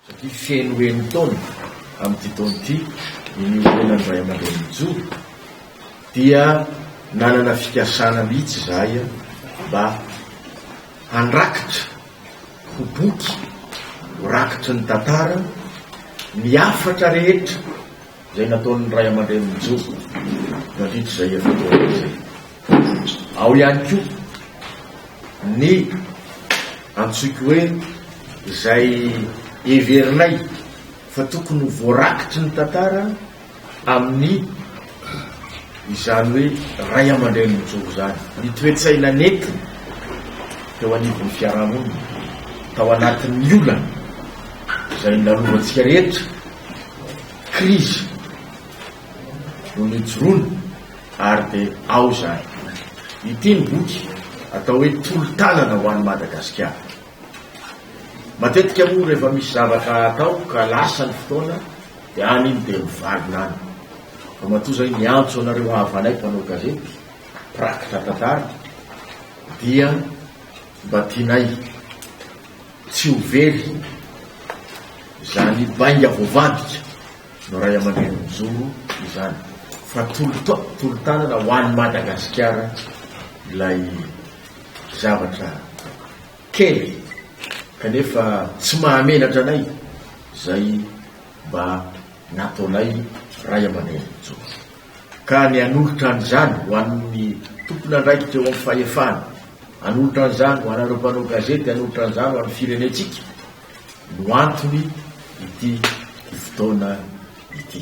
Satria feno enin-taona amin'ity taona ity ny niorenan'ny ray aman-dreny nijoro, dia nanana fikasana mihitsy izahay mba handrakitra ho boky, ho rakitry ny tantara, ny hafatra rehetra Izay nataon'ny ray aman-drenin'i Joba nandritra izay efa-taona izay. Ao ihany koa ny antsoiko hoe izay heverinay fa tokony ho voarakitry ny tantara amin'ny izany hoe ray aman-drenin'i Joba izany, ny toe-tsaina nentiny teo anivon'ny fiarahamonina, tao anatin'ny olana izay nalovantsika rehetra. krizy no nijoroana ary dia ao izany. Ity ny boky atao hoe Tolo-tanana ho an'i Madagasikara. Matetika moa rehefa misy zavatra atao ka lasa ny fotoana dia any iny dia mivalona any. Fa matoa izay miantso anareo havanay mpanao gazety, mpirakotra tantara dia mba tianay Tsy ho very izany bainga voavadika no ray aman-dreny mijoro izany fa tolo-tanana ho an'i Madagasikara ilay zavatra kely kanefa tsy mahamenatra anay izay mba nataonay ray aman-dreny mijoro. ka ny hanolotra an'izany ho an'ny tompon'andraikitra eo amin'ny fahefana, hanolotra an'izany ho anareo mpanao gazety, hanolotra an'izany ho an'ny firenentsika no antony ity fotoana ity.